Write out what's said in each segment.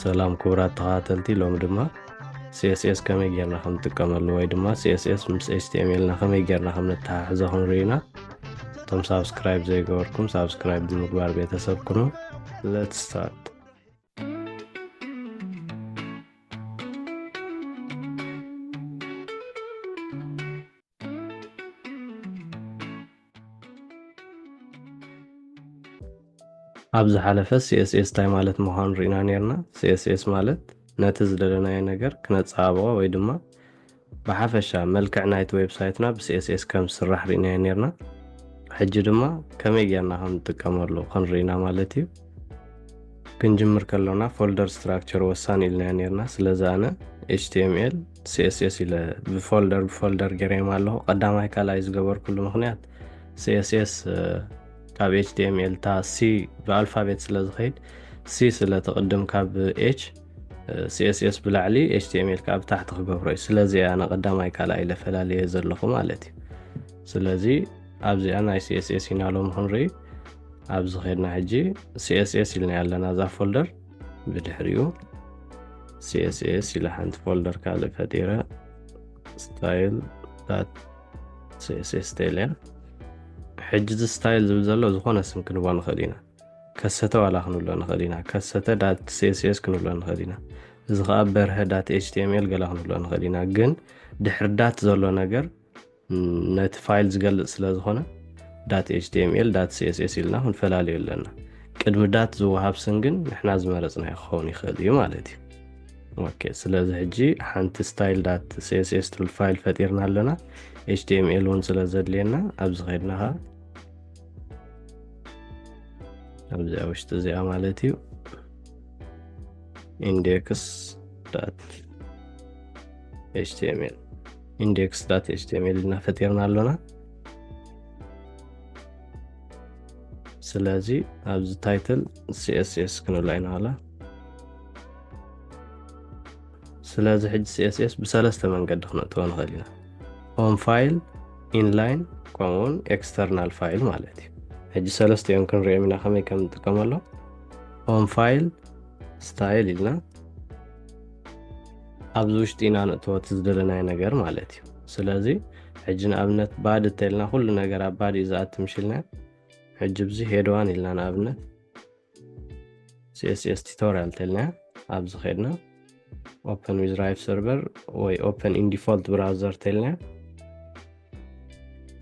ሰላም ክቡራት ተኸታተልቲ ሎሚ ድማ ሲኤስኤስ ከመይ ጌርና ከም ንጥቀመሉ ወይ ድማ ሲኤስኤስ ምስ ኤችቲኤምኤልና ከመይ ጌርና ከም ነተሓሕዞ ክንርኢና እቶም ሳብስክራይብ ዘይገበርኩም ሳብስክራይብ ብምግባር ቤተሰብ ኩኑ ለት ስታርት ኣብ ዝሓለፈ ሲኤስኤስ እንታይ ማለት ምዃኑ ርኢና ነርና። ሲኤስኤስ ማለት ነቲ ዝደለናዮ ነገር ክነጸባብቖ ወይ ድማ ብሓፈሻ መልክዕ ናይቲ ዌብሳይትና ብሲኤስኤስ ከም ዝስራሕ ርኢናዮ ነርና። ሕጂ ድማ ከመይ ጌርና ከም ንጥቀመሉ ክንርኢ ኢና ማለት እዩ። ክንጅምር ከሎና ፎልደር ስትራክቸር ወሳኒ ኢልናዮ ነርና። ስለዚ ኣነ ኤችቲኤምኤል ሲስስ ኢለ ብፎልደር ብፎልደር ገሬም ኣለኹ ቀዳማይ ካልኣይ ዝገበርኩሉ ምክንያት ሲስስ ካብ ኤችዲኤምኤል እታ ሲ ብኣልፋቤት ስለ ዝኸይድ ሲ ስለ ተቕድም ካብ ኤች ሲስስ ብላዕሊ ኤችዲኤምኤል ካብ ታሕቲ ክገብሮ እዩ ስለዚ እያ ንቀዳማይ ካልኣይ ለፈላለየ ዘለኹ ማለት እዩ ስለዚ ኣብዚኣ ናይ ሲስስ ኢና ሎም ክንርኢ ኣብዚ ኸድና ሕጂ ሲስስ ኢልና ኣለና እዛ ፎልደር ብድሕሪኡ ሲኤስኤስ ኢለ ሓንቲ ፎልደር ካልእ ፈጢረ ስታይል ዳት ሲኤስኤስ ስታይል እያ ሕጂ እዚ ስታይል ዝብል ዘሎ ዝኾነ ስም ክንቦ ንኽእል ኢና ከሰተ ዋላ ክንብሎ ንኽእል ኢና ከሰተ ዳት ሲኤስኤስ ክንብሎ ንኽእል ኢና እዚ ከዓ በርሀ ዳት ኤችቲኤምኤል ገላ ክንብሎ ንኽእል ኢና ግን ድሕሪ ዳት ዘሎ ነገር ነቲ ፋይል ዝገልፅ ስለ ዝኾነ ዳት ኤችቲኤምኤል ዳት ሲኤስኤስ ኢልና ክንፈላለዩ ኣለና ቅድሚ ዳት ዝወሃብ ስም ግን ንሕና ዝመረፅና ክኸውን ይኽእል እዩ ማለት እዩ ኦኬ ስለዚ ሕጂ ሓንቲ ስታይል ዳት ሲኤስኤስ ትብል ፋይል ፈጢርና ኣለና ኤችቲኤምኤል እውን ስለ ዘድልየና ኣብዚ ከድና ኸ ኣብዚኣ ውሽጢ እዚኣ ማለት እዩ ኢንዴክስ ዳት ኤችቲኤምኤል ኢንዴክስ ዳት ኤችቲኤምኤል እና ፈጢርና ኣሎና ስለዚ ኣብዚ ታይትል ሲኤስኤስ ክንብላ ኢና ዋላ ስለዚ ሕጂ ሲኤስኤስ ብሰለስተ መንገዲ ክነእትዎ ንኽእል ኢና ሆም ፋይል ኢንላይን ከምኡውን ኤክስተርናል ፋይል ማለት እዩ ሕጂ ሰለስተ እዮም ክንሪኦም ኢና ከመይ ከም ንጥቀመሎም ሆም ፋይል ስታይል ኢልና ኣብዚ ውሽጢ ኢና ንእተዎ እቲ ዝደለናዮ ነገር ማለት እዩ ስለዚ ሕጂ ንኣብነት ባድ እተልና ኩሉ ነገር ኣብ ባድ እዩ ዝኣቲ ምሽልና ሕጂ ብዚ ሄድዋን ኢልና ንኣብነት ሲስስ ቱቶሪያል ተልና ኣብዚ ከድና ኦፕን ዊዝ ራይፍ ሰርቨር ወይ ኦፕን ኢንዲፎልት ብራውዘር ተልና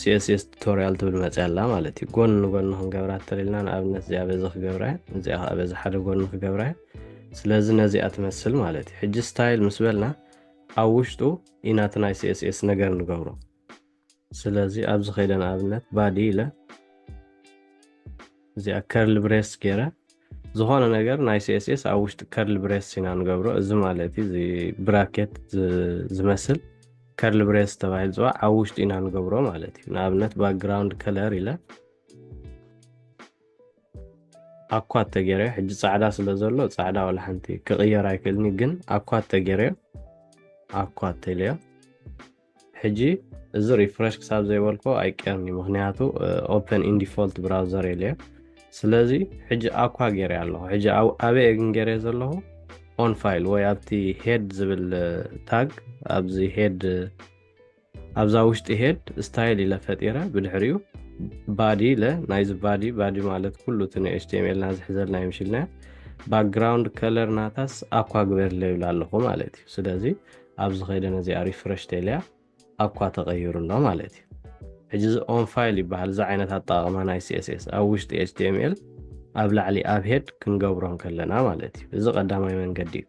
ሲኤስኤስ ቱቶሪያል ትብል መፅያ ኣላ ማለት እዩ ጎኒ ንጎኒ ክንገብራ ተለልና ንኣብነት እዚኣ በዚ ክገብራ እዚኣ ከዓ በዚ ሓደ ጎኒ ክገብራ ስለዚ ነዚኣ ትመስል ማለት እዩ ሕጂ ስታይል ምስ በልና ኣብ ውሽጡ ኢናቲ ናይ ሲኤስኤስ ነገር ንገብሮ ስለዚ ኣብዚ ከይደ ንኣብነት ባዲ ኢለ እዚኣ ከርሊ ብሬስ ገይረ ዝኾነ ነገር ናይ CSS ኣብ ውሽጢ ከርሊ ብሬስ ኢና ንገብሮ እዚ ማለት እዩ እዚ ብራኬት ዝ- ዝመስል ከርሊ ብሬስ ተባሂሉ ዝፅዋዕ ኣብ ውሽጢ ኢና ንገብሮ ማለት እዩ ንኣብነት ባክግራውንድ ከለር ኢለ ኣኳት ተገይረዮ ሕጂ ፃዕዳ ስለ ዘሎ ፃዕዳ ዋላ ሓንቲ ክቕየር ኣይክእልኒ ግን ኣኳት ተገይረዮ ኣኳት ተኢለዮ ሕጂ እዚ ሪፍረሽ ክሳብ ዘይበልኮ ኣይቀርኒ ምክንያቱ ኦፕን ኢን ዲፎልት ብራውዘር የለዮ ስለዚ ሕጂ ኣኳ ገይረ ኣለኹ ሕጂ ኣበየ ግን ገይረ ዘለኹ ኦን ፋይል ወይ ኣብቲ ሄድ ዝብል ታግ ኣብዚ ሄድ ኣብዛ ውሽጢ ሄድ ስታይል ኢለ ፈጢረ ብድሕሪኡ ባዲ ኢለ ናይዚ ባዲ ባዲ ማለት ኩሉ እቲ ናይ ኤችቲኤምኤልና ዝሕዘልና ይምሽልና ባክግራውንድ ከለር ናታስ ኣኳ ግበርለ ይብላ ኣለኹ ማለት እዩ ስለዚ ኣብዚ ከይደ ነዚኣ ሪፍረሽ ተኢለያ ኣኳ ተቐይሩ ኣሎ ማለት እዩ ሕጂ እዚ ኦን ፋይል ይበሃል እዚ ዓይነት ኣጠቃቅማ ናይ ሲስስ ኣብ ውሽጢ ኤችቲኤምኤል ኣብ ላዕሊ ኣብ ሄድ ክንገብሮ ከለና ማለት እዩ እዚ ቀዳማይ መንገዲ እዩ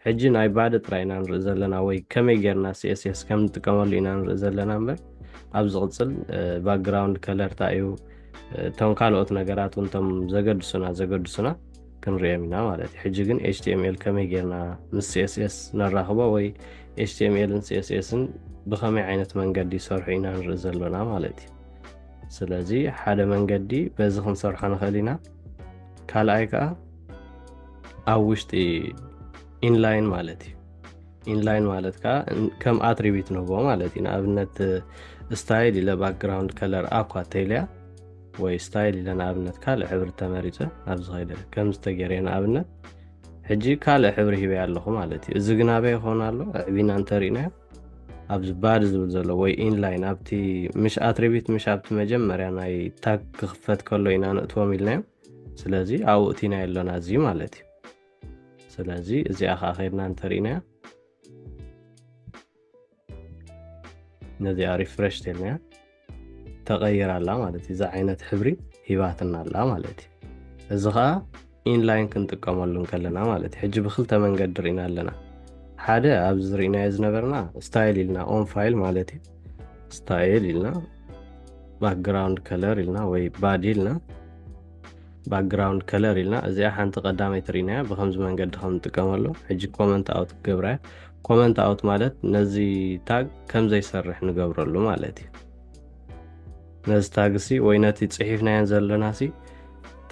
ሕጂ ናይ ባዲ ጥራይ ኢና ንርኢ ዘለና ወይ ከመይ ጌርና ሲስስ ከም ንጥቀመሉ ኢና ንርኢ ዘለና እምበር ኣብ ዝቕፅል ባክግራውንድ ከለርታ እዩ እቶም ካልኦት ነገራት እውን ቶም ዘገድሱና ዘገድሱና ክንሪኦም ኢና ማለት እዩ ሕጂ ግን html ከመይ ጌርና ምስ css ነራኽቦ ወይ html ን css ን ብኸመይ ዓይነት መንገዲ ይሰርሑ ኢና ንርኢ ዘሎና ማለት እዩ ስለዚ ሓደ መንገዲ በዚ ክንሰርሖ ንኽእል ኢና ካልኣይ ከዓ ኣብ ውሽጢ ኢንላይን ማለት እዩ ኢንላይን ማለት ከዓ ከም ኣትሪቢት ንህቦ ማለት እዩ ንኣብነት ስታይል ኢለ ባክግራውንድ ከለር ኣኳ ተይልያ ወይ ስታይል ኢለ ንኣብነት ካልእ ሕብሪ ተመሪፀ ኣብዚ ከይደ ከምዚ ተገይረ ንኣብነት ሕጂ ካልእ ሕብሪ ሂበ ኣለኹ ማለት እዩ እዚ ግን ኣበይ ይኸውን ኣሎ ኣዕቢና እንተርእናዮ ኣብዚ ባድ ዝብል ዘሎ ወይ ኢንላይን ኣብቲ ምሽ ኣትሪቢት ምሽ ኣብቲ መጀመርያ ናይ ታግ ክኽፈት ከሎ ኢና ንእትዎም ኢልናዮ ስለዚ ኣብኡ እቲና የሎና እዚ ማለት እዩ ስለዚ እዚኣ ከዓ ከድና እንተርእናያ ነዚኣ ሪፍረሽ ተልናያ ተቐይር ኣላ ማለት እዩ እዚ ዓይነት ሕብሪ ሂባትና ኣላ ማለት እዩ እዚ ከዓ ኢንላይን ክንጥቀመሉ ከለና ማለት እዩ ሕጂ ብክልተ መንገዲ ርኢና ኣለና ሓደ ኣብዚ ዝርኢናዮ ዝነበርና ስታይል ኢልና ኦን ፋይል ማለት እዩ ስታይል ኢልና ባክግራውንድ ከለር ኢልና ወይ ባዲ ኢልና ባክግራውንድ ከለር ኢልና እዚኣ ሓንቲ ቀዳመይ ትርኢናያ ብከምዚ መንገዲ ከም ንጥቀመሉ ሕጂ ኮመንት ኣውት ክገብራያ ኮመንት ኣውት ማለት ነዚ ታግ ከም ዘይሰርሕ ንገብረሉ ማለት እዩ ነዚ ታግ ሲ ወይ ነቲ ፅሒፍናዮን ዘለና ሲ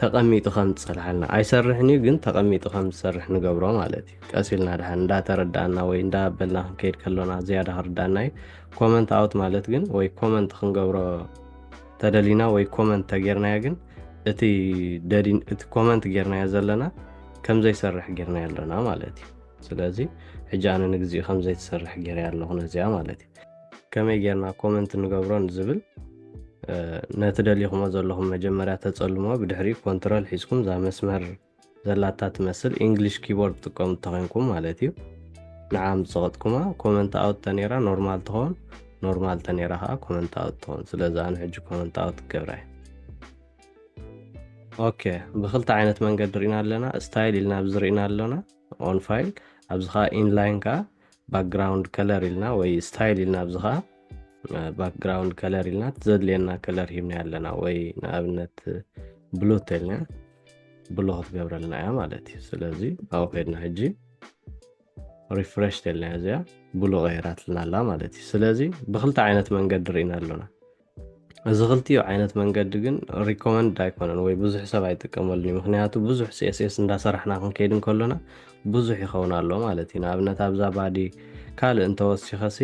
ተቐሚጡ ከም ዝፀልሓልና ኣይሰርሕን እዩ ግን ተቐሚጡ ከም ዝሰርሕ ንገብሮ ማለት እዩ ቀስ ኢልና ድሓን እንዳተረዳእና ወይ እንዳበልና ክንከይድ ከሎና ዝያዳ ክርዳእና እዩ ኮመንት ኣውት ማለት ግን ወይ ኮመንት ክንገብሮ ተደሊና ወይ ኮመንት ተጌርናዮ ግን እቲ ኮመንት ጌርናዮ ዘለና ከም ዘይሰርሕ ጌርናዮ ኣለና ማለት እዩ ስለዚ ሕጂ ኣነ ንግዚኡ ከም ዘይትሰርሕ ገይረያ ኣለኹ ነዚኣ ማለት እዩ ከመይ ጌርና ኮመንት ንገብሮ ንዝብል ነቲ ደሊኹሞ ዘለኹም መጀመርያ ተፀልሞ ብድሕሪ ኮንትሮል ሒዝኩም እዛ መስመር ዘላታ ትመስል ኢንግሊሽ ኪቦርድ ጥቀሙ ተኸንኩም ማለት እዩ ንዓ ምፀቐጥኩማ ኮመንት ኣውት ተነራ ኖርማል ትኸውን ኖርማል ተነራ ከዓ ኮመንት ኣውት ትኸውን ስለዚ ኣነ ሕጂ ኮመንት ኣውት ክገብራ እዩ ኦኬ ብክልተ ዓይነት መንገዲ ርኢና ኣለና ስታይል ኢልና ብዝርኢና ኣለና ኦን ፋይል ኣብዚ ከዓ ኢንላይን ከዓ ባክግራውንድ ከለር ኢልና ወይ ስታይል ኢልና ኣብዚ ከዓ ባክግራውንድ ከለር ኢልና ዘድልየና ከለር ሂብና ኣለና ወይ ንኣብነት ብሉ ተልና ብሉ ክትገብረልና እያ ማለት እዩ ስለዚ ኣብኡ ከድና ሕጂ ሪፍረሽ ተልና እዚኣ ብሉ ቀይራትልና ኣላ ማለት እዩ ስለዚ ብክልተ ዓይነት መንገዲ ርኢና ኣሎና እዚ ክልቲኡ ዓይነት መንገዲ ግን ሪኮመንድ ኣይኮነን ወይ ብዙሕ ሰብ ኣይጥቀመሉን እዩ ምክንያቱ ብዙሕ ሲኤስኤስ እንዳሰራሕና ክንከይድ እንከሎና ብዙሕ ይኸውን ኣሎ ማለት እዩ ንኣብነት ኣብዛ ባዲ ካልእ እንተወሲኸሲ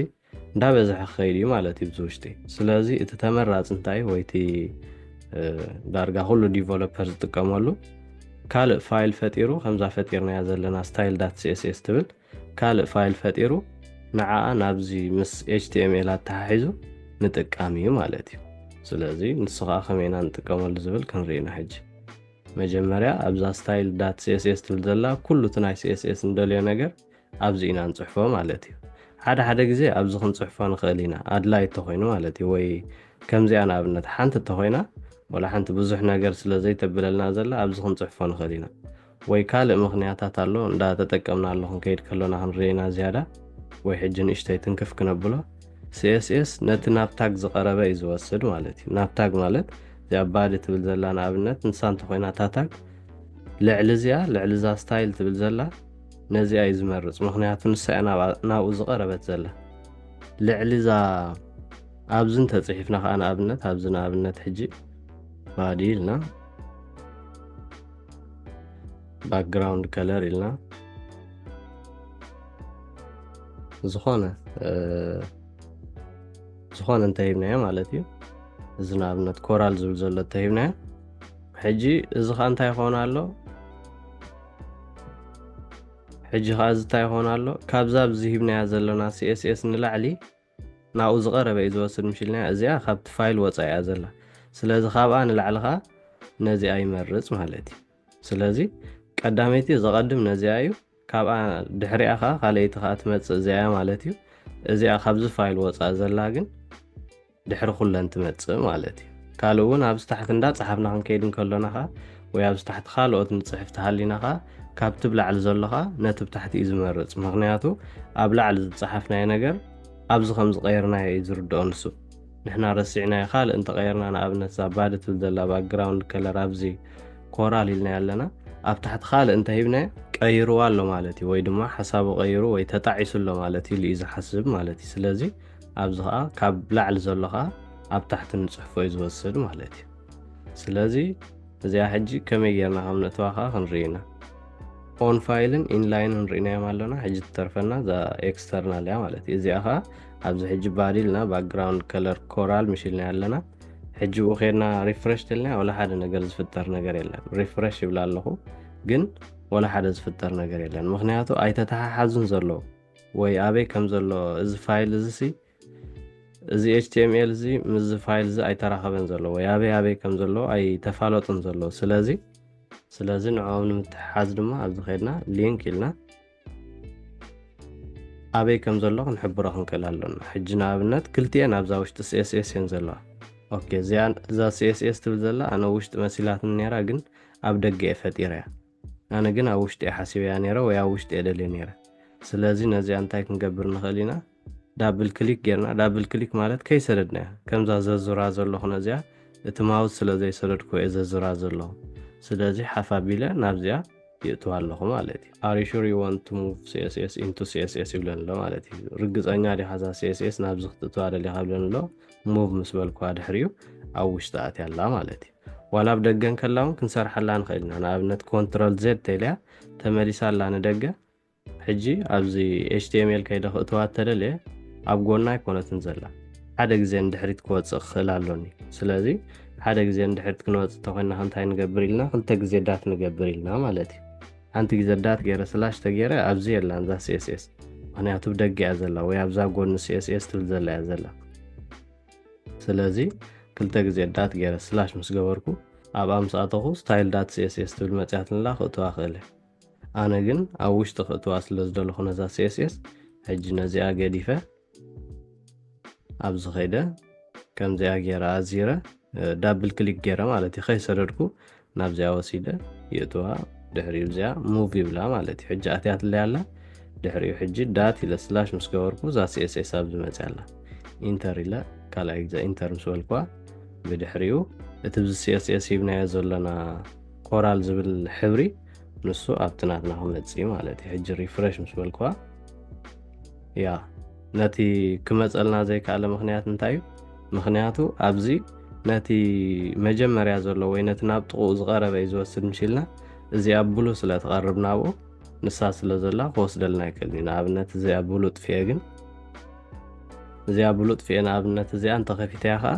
እንዳበዝሐ ክኸይድ እዩ ማለት እዩ ብዝውሽጢ ስለዚ እቲ ተመራፂ እንታይ ወይ እቲ ዳርጋ ኩሉ ዲቨሎፐር ዝጥቀመሉ ካልእ ፋይል ፈጢሩ ከምዛ ፈጢርናያ ዘለና ስታይል ዳት ሲኤስኤስ ትብል ካልእ ፋይል ፈጢሩ ንዓኣ ናብዚ ምስ html ኣተሓሒዙ ምጥቃም እዩ ማለት እዩ ስለዚ ንሱ ከዓ ከመይ ኢና ንጥቀመሉ ዝብል ክንርኢ ኢና ሕጂ መጀመርያ ኣብዛ ስታይል ዳት ሲኤስኤስ ትብል ዘላ ኩሉ እቲ ናይ ሲኤስኤስ እንደልዮ ነገር ኣብዚ ኢና ንፅሕፎ ማለት እዩ ሓደ ሓደ ግዜ ኣብዚ ክንፅሕፎ ንኽእል ኢና ኣድላይ እተኮይኑ ማለት እዩ ወይ ከምዚኣ ንኣብነት ሓንቲ እተኮይና ወላ ሓንቲ ብዙሕ ነገር ስለ ዘይተብለልና ዘላ ኣብዚ ክንፅሕፎ ንኽእል ኢና ወይ ካልእ ምኽንያታት ኣሎ እንዳ ተጠቀምናሉ ክንከይድ ከሎና ክንርኢ ኢና ዝያዳ ወይ ሕጂ ንእሽተይ ትንክፍ ክነብሎ css ነቲ ናብ ታግ ዝቐረበ እዩ ዝወስድ ማለት እዩ ናብ ታግ ማለት እዚኣ ባዲ ትብል ዘላ ንኣብነት ንሳ እንተኾይና እታ ታግ ልዕሊ እዚኣ ልዕሊ እዛ ስታይል ትብል ዘላ ነዚኣ እዩ ዝመርፅ ምክንያቱ ንሳ እያ ናብኡ ዝቐረበት ዘላ ልዕሊ እዛ ኣብዚ እንተፅሒፍና ከዓ ንኣብነት ኣብዚ ንኣብነት ሕጂ ባዲ ኢልና ባክግራውንድ ከለር ኢልና ዝኾነ ዝኾነ እንተሂብናዮ ማለት እዩ እዚ ንኣብነት ኮራል ዝብል ዘሎ እተሂብናዮ ሕጂ እዚ ከዓ እንታይ ይኾን ኣሎ ሕጂ ከዓ እዚ እንታይ ይኾን ኣሎ ካብዛ ብዚ ሂብናያ ዘለና ሲኤስኤስ ንላዕሊ ናብኡ ዝቐረበ እዩ ዝወስድ ምሽልንያ እዚኣ ካብቲ ፋይል ወጻኢ እያ ዘላ ስለዚ ካብኣ ንላዕሊ ከኣ ነዚኣ ይመርጽ ማለት እዩ ስለዚ ቀዳመይቲ ዘቐድም ነዚኣ እዩ ካብኣ ድሕሪኣ ከኣ ካልኣይቲ ከኣ ትመጽእ እዚኣ እያ ማለት እዩ እዚኣ ካብዚ ፋይል ወጻኢ ዘላ ግን ድሕሪ ኩለን ትመጽእ ማለት እዩ ካልእ እውን ኣብዚ ታሕቲ እንዳ ጸሓፍና ክንከይድ እንከሎና ከኣ ወይ ኣብዚ ታሕቲ ካልኦት ንጽሕፍ ተሃሊና ከኣ ካብቲ ብ ላዕሊ ዘሎ ከኣ ነቲ ብ ታሕቲ እዩ ዝመርጽ ምኽንያቱ ኣብ ላዕሊ ዝጸሓፍናዮ ነገር ኣብዚ ከም ዝቐየርናዮ እዩ ዝርድኦ ንሱ ንሕና ረሲዕናዮ ካልእ እንተ ቐየርና ንኣብነት እዛ ባዲ ትብል ዘላ ባክግራውንድ ከለር ኣብዚ ኮራል ኢልናዮ ኣለና ኣብ ታሕቲ ካልእ እንተ ሂብናዮ ቀይርዋ ኣሎ ማለት እዩ ወይ ድማ ሓሳቡ ቀይሩ ወይ ተጣዒሱ ኣሎ ማለት ኢሉ እዩ ዝሓስብ ማለት እዩ ስለዚ ኣብዚ ከኣ ካብ ላዕሊ ዘሎ ከኣ ኣብ ታሕቲ ንጽሕፎ እዩ ዝወስድ ማለት እዩ ስለዚ እዚኣ ሕጂ ከመይ ጌርና ከም ነእትዋ ከኣ ክንርኢ ኢና ኦን ፋይልን ኢንላይንን ርኢናዮም ኣሎና ሕጂ ትተርፈና እዛ ኤክስተርናል እያ ማለት እዩ እዚኣ ከኣ ኣብዚ ሕጂ ባዲ ኢልና ባክግራውንድ ከለር ኮራል ምሽልና ኣለና ሕጂ ብኡ ከድና ሪፍረሽ ተልና ወላ ሓደ ነገር ዝፍጠር ነገር የለን ሪፍረሽ ይብላ ኣለኹ ግን ወላ ሓደ ዝፍጠር ነገር የለን ምክንያቱ ኣይተተሓሓዙን ዘሎ ወይ ኣበይ ከም ዘሎ እዚ ፋይል እዚ ሲ እዚ html እዚ ምስዚ ፋይል እዚ ኣይተራኸበን ዘሎ ወይ ኣበይ ኣበይ ከም ዘሎ ኣይተፋለጡን ዘሎ ስለዚ ስለዚ ንዕኦም ንምትሕሓዝ ድማ ኣብዚ ከድና ሊንክ ኢልና ኣበይ ከም ዘሎ ክንሕብሮ ክንክእል ኣሎና ሕጂ ንኣብነት ክልቲኤን ኣብዛ ውሽጢ ሲኤስኤስ እየን ዘለዋ ኦኬ እዚኣ እዛ ሲኤስኤስ ትብል ዘላ ኣነ ውሽጢ መሲላትኒ ነራ ግን ኣብ ደገ እየ ፈጢረ እያ ኣነ ግን ኣብ ውሽጢ እየ ሓሲበያ ነረ ወይ ኣብ ውሽጢ እየ ደልየ ነረ ስለዚ ነዚኣ እንታይ ክንገብር ንኽእል ኢና ዳብል ክሊክ ጌርና ዳብል ክሊክ ማለት ከይሰደድናያ ከምዛ ዘዙራ ዘለኹነ እዚኣ እቲ ማውዝ ስለ ዘይሰደድኩ እየ ዘዙራ ዘለኹ ስለዚ ሓፍ ኣቢለ ናብዚኣ ይእትዋ ኣለኹ ማለት እዩ are you sure you want to move css into css ይብለኒ ኣሎ ማለት እዩ ርግፀኛ ዲኻ እዛ css ናብዚ ክትእትዋ ደሊኻ ይብለኒ ኣሎ ሙቭ ምስ በልኳ ድሕሪኡ ኣብ ውሽጢ ኣትያ ኣላ ማለት እዩ ዋላ ኣብ ደገ እንከላ እውን ክንሰርሓላ ንኽእል ኢና ንኣብነት ኮንትሮል ዜድ ተልያ ተመሊሳ ኣላ ንደገ ሕጂ ኣብዚ html ከይደ ክእትዋ እተደልየ ኣብ ጎና ኣይኮነትን ዘላ ሓደ ግዜ ንድሕሪት ክወፅእ ክኽእል ኣሎኒ ስለዚ ሓደ ግዜ ንድሕሪት ክንወፅእ ተኮይና ክንታይ ንገብር ኢልና ክልተ ግዜ ዳት ንገብር ኢልና ማለት እዩ ሓንቲ ግዜ ዳት ገይረ ስላሽ ተገይረ ኣብዚ የላን እዛ ሲስስ ምክንያቱ ብደገ እያ ዘላ ወይ ኣብዛ ጎኒ ሲስስ ትብል ዘላ እያ ዘላ ስለዚ ክልተ ግዜ ዳት ገይረ ስላሽ ምስ ገበርኩ ኣብ ኣምስኣተኹ ስታይል ዳት ሲስስ ትብል መፅያት ንላ ክእትዋ ክእለ ኣነ ግን ኣብ ውሽጢ ክእትዋ ስለ ዝደለኹ ነዛ ሲኤስኤስ ሕጂ ነዚኣ ገዲፈ ኣብዚ ከይደ ከምዚኣ ገይረ ኣዚረ ዳብል ክሊክ ገይረ ማለት እዩ ከይሰደድኩ ናብዚኣ ወሲደ ይእትዋ ድሕሪኡ እዚኣ ሙቭ ይብላ ማለት እዩ ሕጂ ኣትያትለይ ኣላ ድሕሪኡ ሕጂ ዳት ኢለ ስላሽ ምስ ገበርኩ እዛ ሲኤስኤስ ኣብ ዝመፅያ ኣላ ኢንተር ኢለ ካልኣይ ግዜ ኢንተር ምስ በልኳ ብድሕሪኡ እቲ ብዚ ሲኤስኤስ ሂብናዮ ዘለና ኮራል ዝብል ሕብሪ ንሱ ኣብቲ ናትና ክመፅ እዩ ማለት እዩ ሕጂ ሪፍረሽ ምስ በልክዋ ያ ነቲ ክመፀልና ዘይከኣለ ምክንያት እንታይ እዩ ምክንያቱ ኣብዚ ነቲ መጀመርያ ዘሎ ወይ ነቲ ናብ ጥቕኡ ዝቐረበ እዩ ዝወስድ ምሽልና እዚኣ ብሉ ስለ ትቐርብ ናብኡ ንሳ ስለ ዘላ ክወስደልና ይክእል እዩ ንኣብነት እዚኣ ብሉ ጥፍኤ ግን እዚኣ ብሉ ጥፍኤ ንኣብነት እዚኣ እንተኸፊተያ ከዓ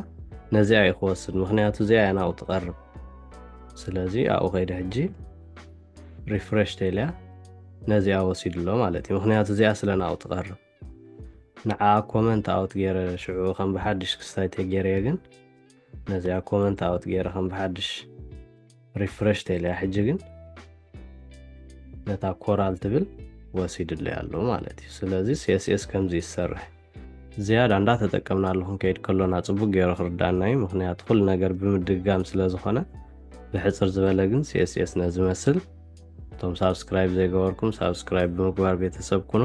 ነዚኣ እዩ ክወስድ ምክንያቱ እዚኣ እያ ናብኡ ትቐርብ ስለዚ ኣብኡ ከይደ ሕጂ ሪፍሬሽ ተልያ ነዚኣ ወሲዱ ኣሎ ማለት እዩ ምክንያቱ እዚኣ ስለ ናብኡ ትቐርብ ንዓ ኮመንት ኣውት ገይረ ሽዑ ከም ብሓድሽ ክስታይ ተገይረየ ግን ነዚኣ ኮመንት ኣውት ገይረ ከም ብሓድሽ ሪፍሬሽ ተልያ ሕጂ ግን ነታ ኮራል ትብል ወሲድለይ ኣሎ ማለት እዩ ስለዚ ሲስኤስ ከምዚ ይሰርሕ ዝያዳ እንዳ ተጠቀምናሉ ክንከይድ ከሎና ጽቡቅ ገይሩ ክርዳኣና እዩ ምክንያቱ ኩሉ ነገር ብምድግጋም ስለ ዝኾነ ብሕጽር ዝበለ ግን ሲኤስኤስ ነዚ መስል እቶም ሳብስክራይብ ዘይገበርኩም ሳብስክራይብ ብምግባር ቤተሰብ ኩኑ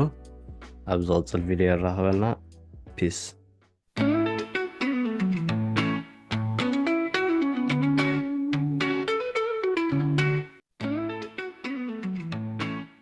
ኣብ ዝቕጽል ቪድዮ የራኽበና ፒስ